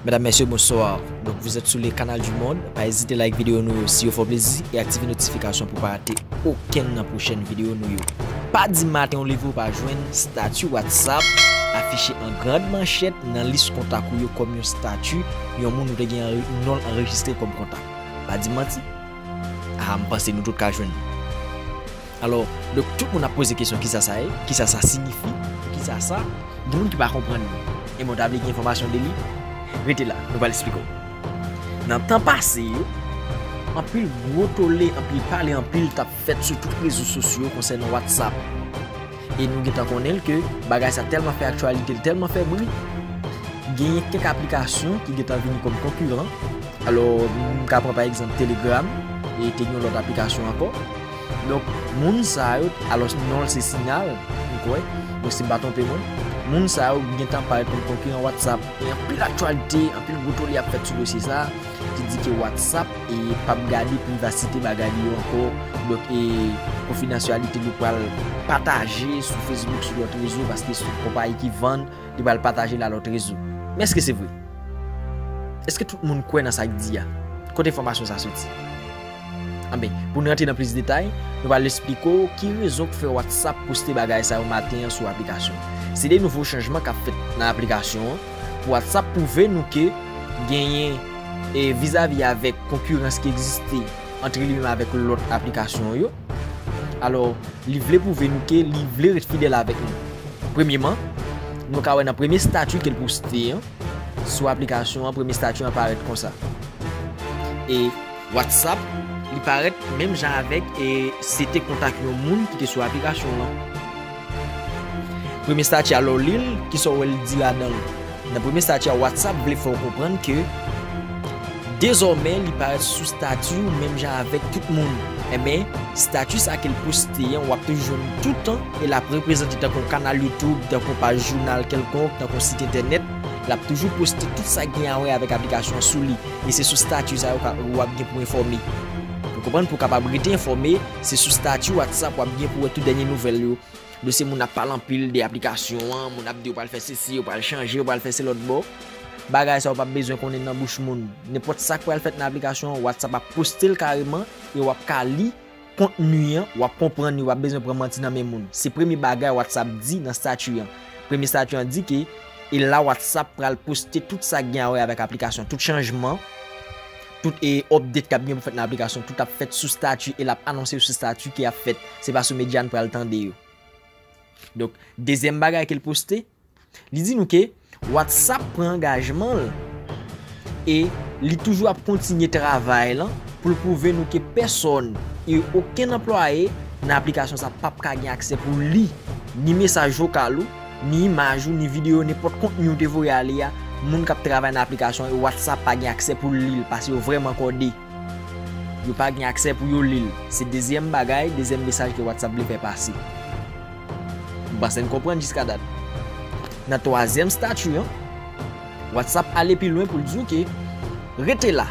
Medam mesye bonsoir donk vous etes sou le canal du monde pa ezite like video nou yo si yo fè w plezi e aktive notification pou pa rate okenn nan prochèn video nou yo pa dim maten w leve w pa jwenn statut whatsapp afiche an grand manchèt nan lis kontak ou yo kòm yon statut yon moun ou te gen non l anrejistre kòm kontak pa dim manti aa m panse nou tout ka jwenn. Alò, donk tout moun ap poze kesyon kisa sa ye, kisa sa sinifi, kisa sa. Gen moun ki pa konprann li. Ebyen ou ta vle gen enfòmasyon de li? Rete la, nou pral esplike w. Nan tan pase yo, anpil gwo tole, anpil pale anpil tap fèt sou tout rezo sosyo konsènan Whatsapp. E nou gentan konnen l ke bagay sa tèlman fè aktyalite, li tèlman fè bri, genyen kèk aplikasyon ki gentan vini kòm konkiran. Alò, m ka pran pa egzanp Telegram, e te gen yon lòt aplikasyon ankò. Donk moun sa yo, alòs non l se Sinyal, m kwè, mwen si m pa twonpe mwen, moun sa yo gen tan parèt kòm konkiran Whatsapp e anpil aktyalite, anpil gwo tole ap fèt sou dosye sa a ki di ke Whatsapp e p ap gade privasite bagay li yo ankò, donk e konfidansyalite li pral pataje sou Facebook, sou lòt rezo paske se yon konpayi ki vann, li pral pataje l a lòt rezo. Men èske se vre? Èske tout moun kwè nan sa k di a? Kote enfòmasyon sa soti? Anben, pou n rantre nan plis detay, nou pral esplike w ki rezon k fè WhatsApp poste bagay sa yo maten an sou aplikasyon an. Se de nouvo chanjman k ap fèt nan aplikasyon an pou WhatsApp pwouve nou ke genyen e vizavi avèk konkirans ki egziste antre li menm avèk lòt aplikasyon yo. Alò, li vle pwouve nou ke li vle ret fidèl avèk nou. Premyeman, nou ka wè nan premye stati ke l poste an sou aplikasyon an, premye stati an parèt konsa. E. WhatsApp, li parèt menm jan avèk e se te kontak yon moun ki te sou aplikasyon lan. Premye stati a lè w li l, ki sa w wè li di ladan l? Nan premye stati a WhatsApp vle fè w konprann ke dezòmè li parèt sou stati w menm jan avèk tout moun. Enben, stati sa ke l poste an w ap toujou jwenn l toutan e l ap reprezante tankou yon kanal YouTube, tankou yon paj jounal kèlkonk, tankou yon sit entènèt, l ap toujou poste tout sa ki gen a wè avèk aplikasyon an sou li. E se sou stati sa yo ka ou ap gen pou enfòme. Ou konprann pou kapab rete enfòme, se sou stati WhatsApp wap gen pou wè tout dènye nouvèl yo. Nou se moun ap pale anpil de aplikasyon an, moun ap di yo pral fè sesi, yo pral chanje, yo pral fè se lòt bò. Bagay sa yo pap bezwen konnen nan bouch moun. Nenpòt sak pral fèt nan aplikasyon an, WhatsApp ap poste l kareman e wap ka li. Kontni an, w ap konprann li, w pa bezwen pran manti nan men moun. Se premye bagay WhatsApp di nan stati an. Premye stati an di ke e la WhatsApp pral poste tout sa ki gen a wè avèk aplikasyon. Tout chanjman, tout e update k ap gen pou fèt nan aplikasyon, tout ap fèt sou stati e l ap anonse yo sou stati ke y ap fèt. Se pa sou medya n pral tande yo. Donk, dezyèm bagay ke l poste. Li di nou ke WhatsApp pran angajman l e li toujou ap kontinye travay lan pou l pwouve nou ke pèsòn e okenn anplwaye nan aplikasyon sa pap ka gen aksè pou li ni mesaj vokal ou, ni imaj ou, ni videyo, nenpòt kontni ou te voye a li a, moun kap travay nan aplikasyon e WhatsApp pa gen aksè pou l li l paske yo vrèman kòde. Yo pa gen aksè pou yo li l. Se dezyèm bagay, dezyèm mesaj ke WhatsApp vle fè pase. M panse n konprann jiska dat. Nan twazyèm stati an, WhatsApp ale pi lwen pou l di w ke rete la,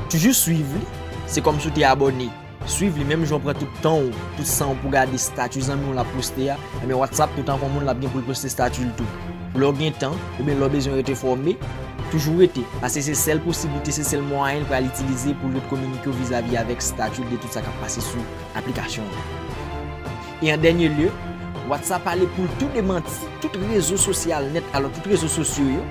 toujou swiv li, se kòm si w te abòne. Swiv li menm jan w pran tout tan w, tout san w pou w gade stati zanmi w la poste a, enben WhatsApp toutan kon moun l ap gen pou l poste stati l tou. Lè w gen tan, oubyen lè w bezwen rete fòme, toujou rete, paske se sèl posiblite, se sèl mwayen l pral itilize pou l ret kominike w vizavi avèk staff yo de tout sa k ap pase sou aplikasyon an. E an dènye lye, WhatsApp pale pou l tou demanti tout rezo sosyal nèt, alò tout rezo sosyo yo,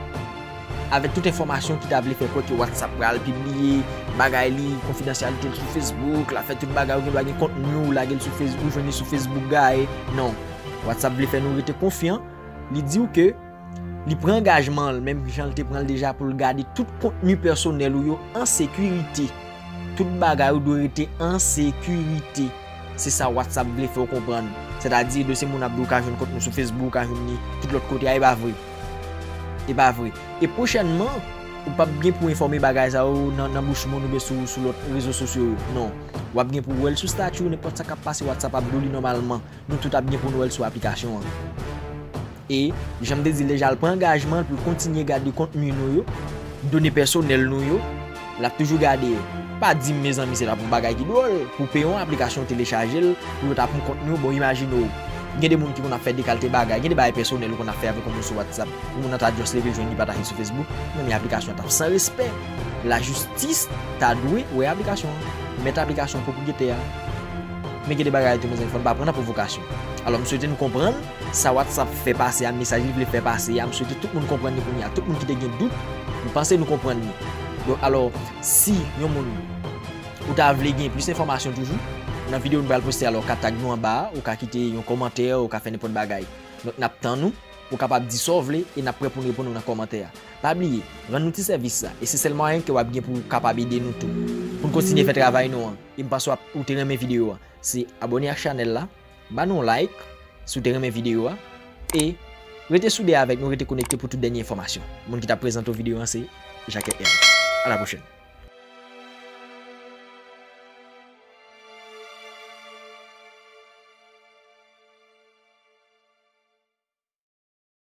avèk tout enfòmasyon ki ta vle fè kwè ke WhatsApp pral pibliye bagay li, konfidansyalite l sou Facebook, l ap fè tout bagay, ou gen dwa gen kontni w, lage l sou Facebook, ou jwenn li sou Facebook gaye. Non, WhatsApp vle fè nou rete konfyan. Li di w ke li pran angajman l, menm jan l te pran l deja pou l gade tout kontni pèsonèl ou yo an sekirite. Tout bagay ou dwe rete an sekirite. Se sa WhatsApp vle fè w konprann. Sètadi, dosye moun ap di w ka jwenn kont nou sou Facebook, ou ka jwenn li tout lòt kote a, e pa vre. E pa vre. E pwochènman, ou p ap gen pou enfòme bagay sa yo nan bouch moun oubyen sou lòt rezo sosyo yo. Non. W ap gen pou wè l sou stati w, nenpòt sa k ap pase WhatsApp ap di w li nòmalman. Nou tout ap gen pou nou wèl sou aplikasyon an. E, janm te dil deja l pran angajman l pou l kontinye gade kontni nou yo, done pèsonèl nou yo, lap toujou gade yo. Pa dim mezanmi se tap yon bagay ki dwòl pou peye yon aplikasyon ou telechaje l pou yo ta pran kontni w bon imajine w gen de moun ki konn ap fè de kalte bagay gen de bagay pèsonèl ou konn ap fè avèk yon moun sou whatsapp yon moun nan ta just leve jwenn li pataje l sou facebook mezanmi aplikasyon an tap san respè lajistis ta dwe wè aplikasyon an mèt aplikasyon an pwopriyetè a. Men gen de bagay tou mezanmi fò n pa pran nan pwovokasyon. Alò m swete n konprann sa Whatsapp fè pase a, mesaj li vle fè pase a, m swete tout moun konprann li kounye a. Tout moun ki te gen dout, m panse nou konprann li. Donk alò, si yon moun ou ta vle gen plis enfòmasyon toujou, nan videyo nou pral poste a la ou ka tag nou anba a, ou ka kite yon kòmantè, ou ka fè nenpòt bagay. Donk n ap tann ou, ou kapab di sa w vle e n ap prè pou n reponn ou nan kòmantè a. Pa bliye, rann nou ti sèvis sa e se sèl mwayen ke w ap gen pou w kapab ede nou tou pou n kontinye fè travay nou an. E m paswa ou te renmen video a se abone ak chanel la ba nou yon like si w te renmen video a e rete soude avek nou rete konekte pou tout denye enfomasyon moun ki tap prezante w video an se Jacques M a la pwochen.